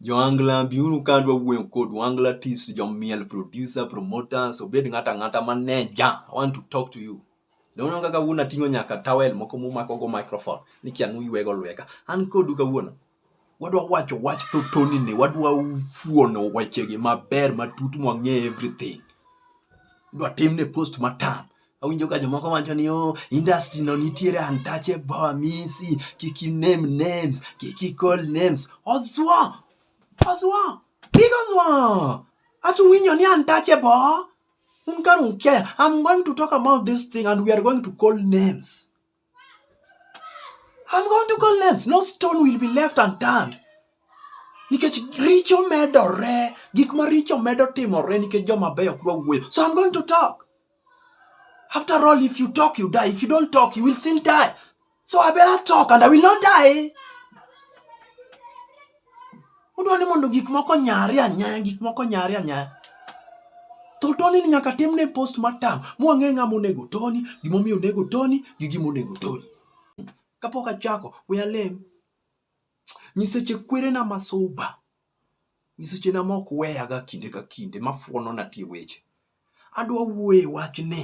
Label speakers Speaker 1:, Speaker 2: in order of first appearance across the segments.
Speaker 1: Joangla biuru ka adwa wuoyo kodu. Angla Tis, jomiel, producer, promoters, obed ng'ata ng'ata maneja. I want to talk to you. Dono kaka wuon ating'o nyaka towel moko mumako go microphone ni kia nuywego lweka. An kodu kawuono. Wadwa wacho wach thotoni ni wadwa fuono wechegi maber matut mwang'e everything. Dwa timne post matam. awinjo ka jomoko wacho ni oh, industry no nitiere untouchable amisi kik name names kik ikol names oswa oswa big oswa achu winyo ni untouchable un karunke i'm going to talk about this thing and we are going to call names I'm going to call names. No stone will be left unturned. Nikech richo medore, gik ma richo medo timore nikech joma beyo ok dwa wuoyo. So I'm going to talk. After all, if you talk, you die. If you don't talk, you will still die. So I better talk and I will not die. Udwa ni mondo gik moko nyare anyaya, gik moko nyare anyaya. To toni ni nyaka tim ne post matam, mwang'e ng'a monego toni, gimomiyo onego toni, gi gimonego toni. Kapok achako, we alem. Nyiseche kwerena masuba, nyisechena mok weyaga kinde ka kinde, mafuonona tie weche. Adwa wuoye e wachni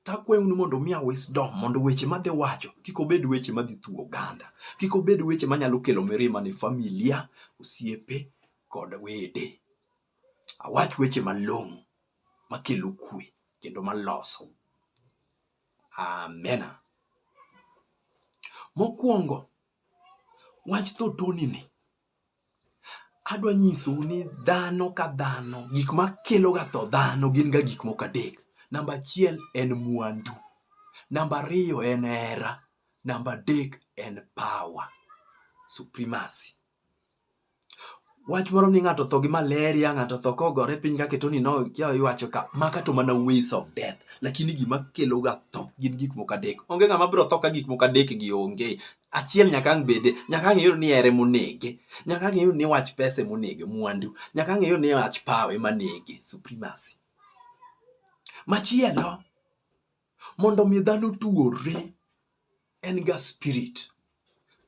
Speaker 1: to akwayonu mondo umiya wisdom mondo weche madhi wacho kik obed weche madhi thuwo oganda, kik obed weche manyalo kelo mirima ne familia, osiepe kod wede. Awach weche malong'o makelo kwe kendo maloso. Amena. Mokwongo, wach thotoni ni adwa nyisou ni dhano ka dhano gik ma keloga tho dhano gin ga gik moko adek namba achiel en mwandu namba ariyo en hera namba adek en power supremacy wach moro ni ng'ato tho gi malaria ng'ato tho kogore piny kaketo ni no kia iwacho ka maka to mana ways of death lakini gima keloga tho gin gik moko adek onge ng'ama biro tho ka gik moko adek gi onge achiel nyaka ang' bede nyaka ang' iyud ni ere monege nyaka ang' iyud ni wach pesa monege mwandu nyaka ang' iyud ni wach power ema nege supremacy machielo mondo mi dhano tuore en ga spirit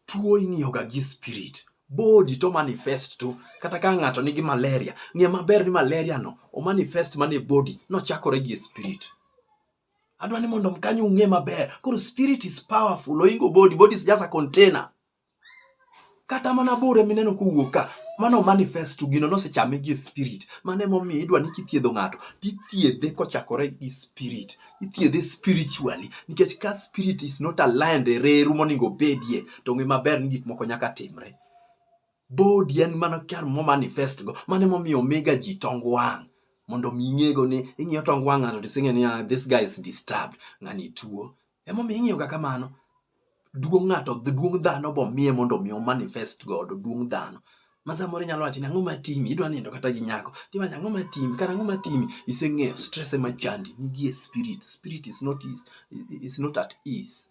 Speaker 1: tuo ing'iyo ga gi spirit body to manifest to kata ka ng'ato nigi malaria ng'e maber ni malaria no o manifest mana e body nochakore gi e spirit adwa ni mondo mkanyo ung'e maber koro spirit is powerful oingo body body is just a container kata mana bure mineno kowuok ka mano manifest to gino nosechame gi spirit mano emomiyo idwa ni kithiedho ng'ato tithiedhe kochakore gi spirit ithiedhe spiritually nikech ka spirit is not aligned e reru moningo bedie to ng'e maber ni gik moko nyaka timre Body en mana kar mo manifest go. Mane momiyo omega ji tong wang' mondo mi ing'ego ni ing'iyo tong wang' ng'ato tising'e ni ah, this guy is disturbed ng'ani tuo. Emomiyo ing'iyoga kamano. Duong' ng'ato duong' dhano bomiye mondo mi o manifest godo duong' dhano. Ma samoro inyalo wacho ni ang'o matimi idwa nindo kata gi nyako tiwacho ang'o matimi kata ang'o matimi iseng'eyo stress ema chandi nigie spirit spirit is not, is, is not at ease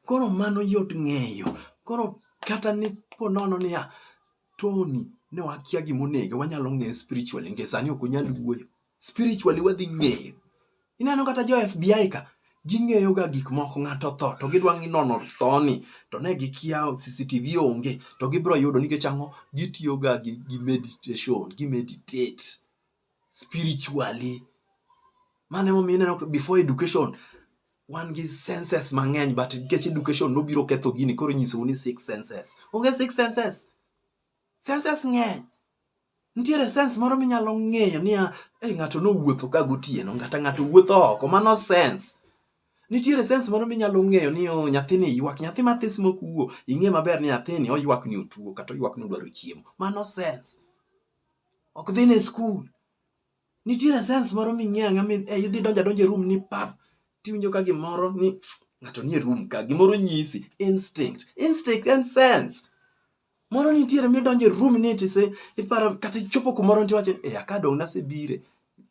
Speaker 1: Koro mano yot ng'eyo. Koro kata ni po nono niya, Tony ne wakia gima onego, wanyalo ng'eyo spiritually nikech sani ok unyal wuoyo. Spiritually wadhi ng'eyo. Ineno kata jo FBI ka, ging'eyo ga gik moko ng'ato otho to gidwa ng'i nono thoni to ne gikia CCTV onge to gibiro yudo nikech ang'o? Gitiyo ga gi, gi meditation, gi meditate. spiritually mano emomiyo ineno before education wan gi senses mang'eny but nikech education nobiro ketho gini koro inyisou ni six senses onge six senses senses ng'eny nitiere sense moro minyalo ng'eyo niya hey, ng'ato nowuotho ka gotieno ngata ng'ato wuotho oko mano sense nitiere sense moro minyalo ng'eyo ni oh, nyathini ywak nyathi mathis mokuwo ing'e maber ni nyathini oywak ni otuo kata oywak ni odwaro chiemo mano sense ok dhi ne skul nitiere sense moro ming'eyo ang'e mi eh, idhi donjo adonja e room ni pap tiwinjo ka gimoro ni ng'ato nie room ka gimoro nyisi instinct instinct and sense moro nitiere midonjo e room ni tise iparo kata ichopo kumoro nti wacho e eh, akadong' nasebire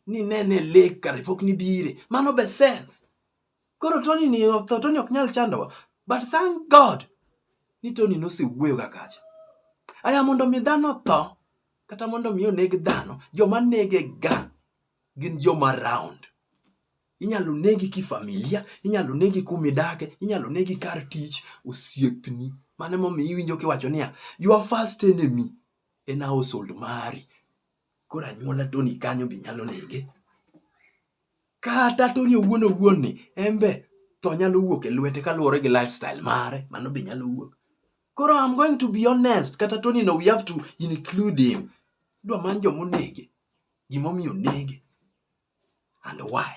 Speaker 1: ni nene lek kare pok nibire mano be sense Koro Tony ni otho, Tony ok nyal chandowa. But thank God ni Tony nosewuoyo ga kacha. Aya mondo mi dhano tho kata mondo mi oneg dhano, joma nege ga gin joma round. Inyalo negi kifamilia, inyalo negi kumidake, inyalo negi kar tich, osiepni. Mano emomiyo iwinjo kiwacho niya, your first enemy en household mari. koro anyuola Tony kanyo be nyalo nege. Kata Tony owuon owuon ni en be tho nyalo wuok e lwete kaluwore gi lifestyle mare, mano be nyalo wuok. Koro I'm going to be honest, kata Tony no we have to include him. Idwa many joma onege, gimomiyo onege and why.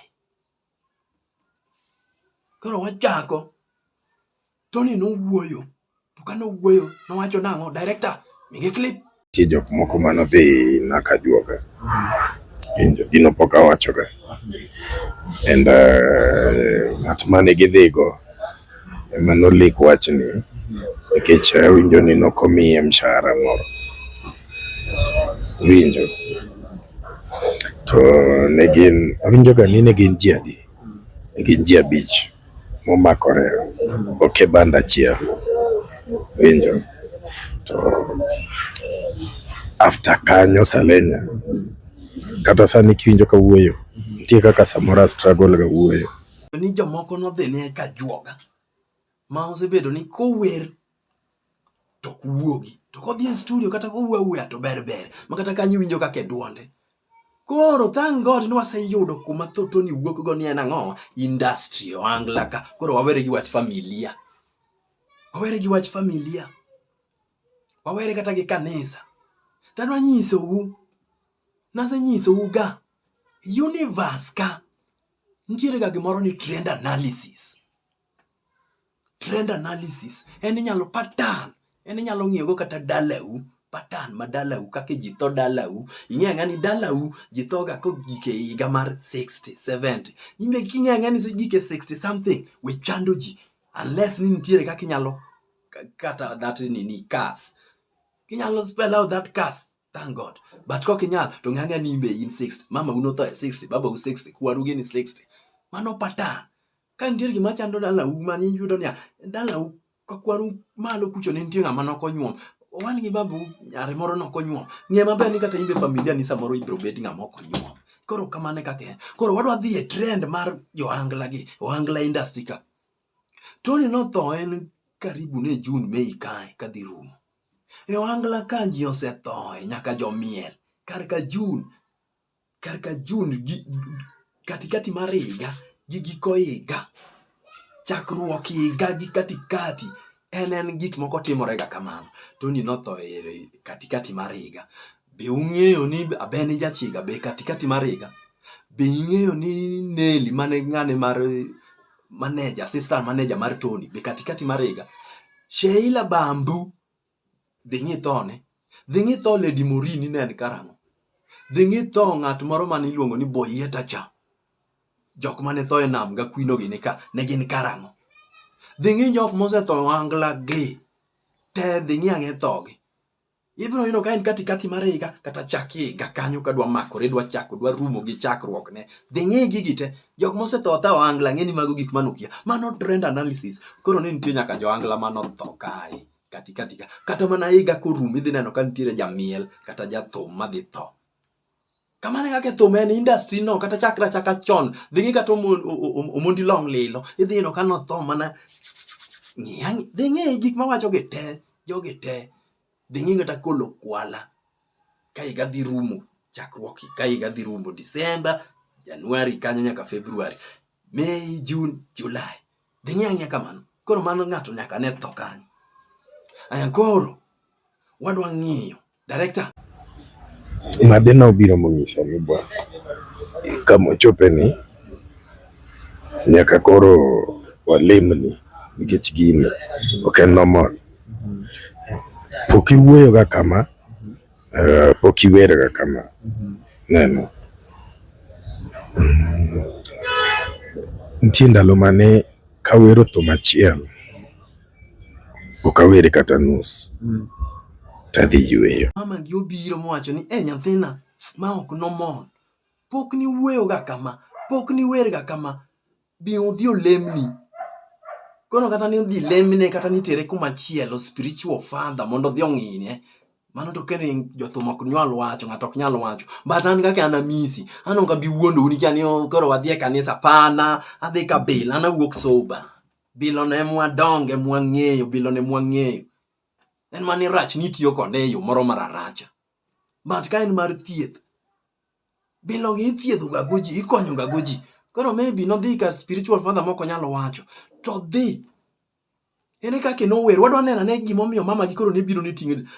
Speaker 1: Koro wachako, Tony nowuoyo, to ka nowuoyo nowacho nang'o? Director, mige clip. Nitie jok moko mane
Speaker 2: odhi naka juoga, winjo gino pok awachoga and uh, ng'at mane gidhigo ema nolik wachni nikech awinjo ni ne ok omiye mshahara moro. Iwinjo? To ne gin, awinjoga ni ne gin ji adi? Ne gin ji abich momakore ok e banda achiel. Iwinjo? To after kanyo Salenya, kata sani kiwinjo kawuoyo, nitie kaka samoro a struggle ga wuoyo. ni jomoko
Speaker 1: nodhine ka juoga ma osebedo ni kower to ok wuogi to kodhi e studio kata kowuo awuoya to ber ber ma kata kanyo iwinjo kaka e dwonde koro thank god ni waseyudo kuma thotoni wuok go ni en ang'o industry oangla ka koro wawere gi wach familia wawere gi wach familia wawere kata gi kanisa tanwa nyisou nasenyisou ga universe ka nitiere ga gimoro ni trend analysis trend analysis en inyalo pattern en inyalo ng'iyogo kata dalau pattern ma dalau kaka ji tho dalau ing'e ang'a ni dalau ji thoga kogik e higa mar 60 70 ing'e king'e ang'a ni gik e 60 something we chando ji unless ni nitiere kaka inyalo kata that nini cars inyalo spell out that cars Thank God. But kok inyal to ng'ang'a ni imbe in 60. Mama uno tho e 60, baba u 60, kwaru gini 60. Mano patan. Ka nitie gima chando dala u ma ni yudo niya, dala u ka kwaru malo kucho ne nitie ng'ama nok onyuom. Owan gi babu nyare moro nok onyuom. Ng'e maber ni kata imbe familia ni samoro ibro bed ng'ama ok onyuom. Koro kamane kaka en. Koro wadwa dhi e trend mar jo angla gi, o angla industry ka. Tony notho en karibu ne June, Mei kae kadhi rumo. E ohangla ka ji osethoe nyaka jomiel kar ka Jun, kar ka Jun gi katikati mar higa gi giko higa, chakruok higa gi katikati en en gik moko timorega kamano. Tony notho e katikati mar higa. Be ung'eyo ni Abeni Jachiga be katikati mar higa? Be ing'eyo ni Neli mane ng'ane mar manager, assistant manager mar Tony be katikati mar higa. Sheila Bambu dhi ng'ithone. Dhi ng'itho Lady Morini ne en karang'o? Dhi ng'itho ng'at moro mane iluongo ni Boyeta cha. Jok mane tho e nam ga kwino gi nika ne gin karang'o? Dhi ng'i jok mosetho angla gi. Te dhi ng'i ang'e thogi. Ibiro yudo ka en katikati mar higa kata chak higa kanyo ka dwa makore dwa chako dwa rumo gi chakruok ne. Dhi ng'i gigi te. Jok mosetho otho ohangla ng'eni mago gik manukia. Mano trend analysis. Koro ne nitie nyaka johangla manotho kae katikati ka. Kata mana higa korum idhi neno ka nitiere jamiel kata jathum madhi tho. Kamano kaka thum en industry no kata chakra chaka chon dhi ng'i kata omondi long lilo idhi yudo ka notho mana ng'iya dhi ng'i gik mawacho gi te jogi te dhi ng'i kata kolo kwala ka higa dhi rumo chakruok ka higa dhi rumo December January kanyo nyaka February May June July dhi ng'i ang'iya kamano koro mano ng'ato nyaka ne tho kanyo aya koro wadwa ng'iyo Director.
Speaker 2: Madhina obiro monyisa ni bwana kama ochope ni nyaka koro walimni nikech gini ok en normal. Pok iwuoyoga kama, eh, pok iwerga kama. Neno. Mm. Nitie ndalo mane kawero thum achiel ok awere kata nus mm. tadhi yweyo. Mama gi obiro mowacho
Speaker 1: ni e nyathina ma ok nomon pok ni wueyoga kama pok ni werga kama bi udhi olemni kono kata ni udhi lemne kata ni tere kuma chielo spiritual father mondo odhi ong'ine mano to kendo jothum ok nyal wacho ng'ato ok nyal wacho but an kaka an amisi an ok abi wuondou nikech an koro wadhi e kanisa pana adhi kabila an awuok soba Bilo ne mwadonge mwang'eyo, bilo ne mwang'eyo. En mani rach ni tiyo kode e yo moro mararacha. But ka en mar thieth, bilo gi ithiedho ga goji, ikonyo ga goji. Koro maybe nodhi ka spiritual father moko nyalo wacho. To dhi. Ene kake nower, wadwa neno ne gimomiyo mama gi koro ne biro ni ting'e.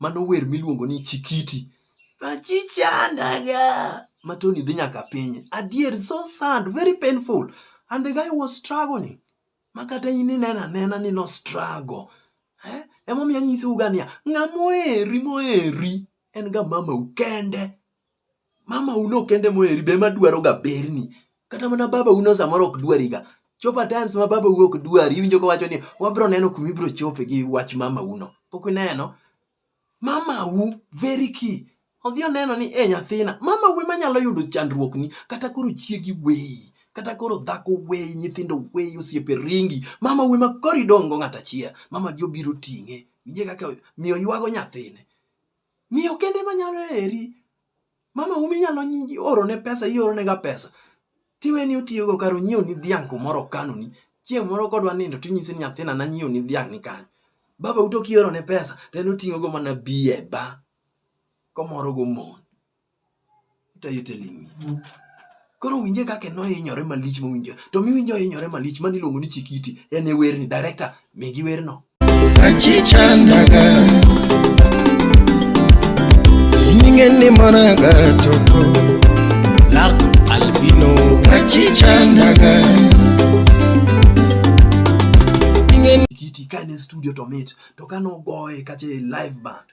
Speaker 1: Mano wer miluongo ni Chikiti. Achichandaga. Matoni dhi nyaka piny. Adier, so sad, very painful. And the guy was struggling. Makata in inena nena ni no struggle. Eh? Emomiyo anyisi uga niya, ng'ama oheri moheri en ga mamau kende. mama uno kende moheri be ema dwaroga berni kata mana baba uno samoro ok dwariga chopa times ma baba uno ok dwari iwinjo kowacho ni wabiro neno kuma ibiro chope gi wach mama uno pok ineno mama u very key odhi oneno ni e nyathina mama u ema nyalo yudo chandruokni kata koro chiegi weyi kata koro dhako weyi nyithindo weyi osiepe ringi mama u ema koro idong' go ng'at achiel mama gi obiro ting'e winje kaka miyo ywago nyathine Miyo kende ma nyalo heri. Mama umi nyalo oro ne pesa, ioro ne ga pesa. Tiwe ni otiyo go karo nyiew ni dhiang' kumoro kano ni. Chieng' moro kodwa nindo tinyise ni nyathina na nyiew ni dhiang' ni kanyo. Baba uto kioro ne pesa to en oting'o go mana biye ba. Komoro go mon. What are you telling me? Koro winje kaka no hinyore malich mowinjo. To miwinjo hinyore malich mani luongo ni Chikiti en e werni director migi werno. Achichandaga Ninge ni monaga toko Lak albino Achichandaga Ninge ni Chikiti kane studio to mit to kano goye kache live band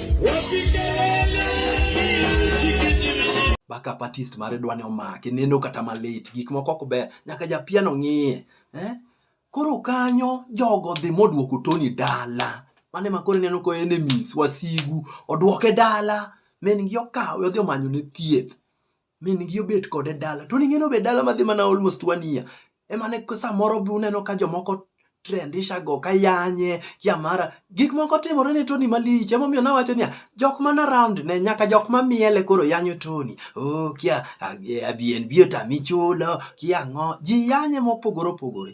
Speaker 1: baka patist mare dwane omake neno kata malit gik moko ok ber nyaka japiano ng'iye eh? koro kanyo jogo dhi modwoko toni dala mane makoro neno ko enemies wasigu odwoke dala min gi okawe odhi omanyo ne thieth min gi obet kode dala to ning'eni obet dala madhi mana almost one year emane samoro be uneno ka jomoko trendisha go kayanye kiamara gik moko timore ne Tony malich emomiyo nawacho niya jok man around ne nyaka jok mamiele koro yanyo Tony oh kia abien biota michulo kia ng'o ji yanye mopogore opogore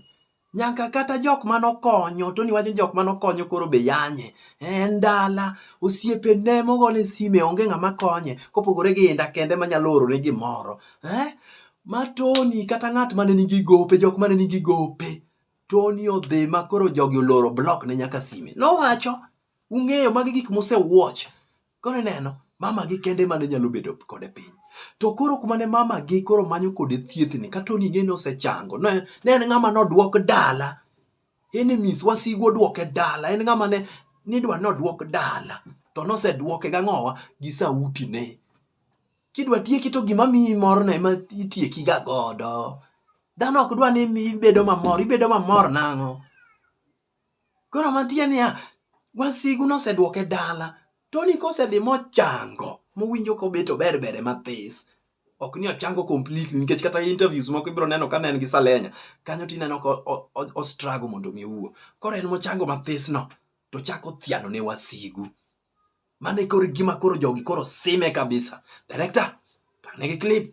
Speaker 1: nyaka kata jok mane okonyo to niwacho jok mane okonyo koro be yanye en dala osiepe ne mogone sime onge ng'ama konye kopogore gi inda kende manyalo orone gimoro eh? ma toni kata ng'at mane nigi gope jok mane nigi gope toni odhi ma koro jogi oloro blok ne nyaka sime nowacho ung'eyo magi gik musewuoch Koro ineno, mama gi kende mane nyalo bedo kode piny. To koro kuma ne mama gi koro manyo kode thiethni, kata onige ni osechango. Ne, ne en ng'ama nodwok dala. Enemies, wasigu odwoke dala. En ng'ama ne nidwa nodwok dala. To nosedwoke gang'owa gi sauti ne. Kidwa tieki to gima miyi morno ema itieki ga godo. Dhano ok dwa ni ibedo mamor, ibedo mamor nang'o? Koro mantie niya, wasigu nosedwoke dala. Tony kosedhi mochango, mowinjo kobet ober bere mathis, ok ni ochango completely nikech kata interviews moko ibiro neno ka ne en gi Salenya, kanyo tineno ka o struggle mondo mi owuo. Koro en mochango mathisno, to ochako thiano ne wasigu. Mano e koro gima koro jogi koro sime kabisa. Director, tang' negi clip.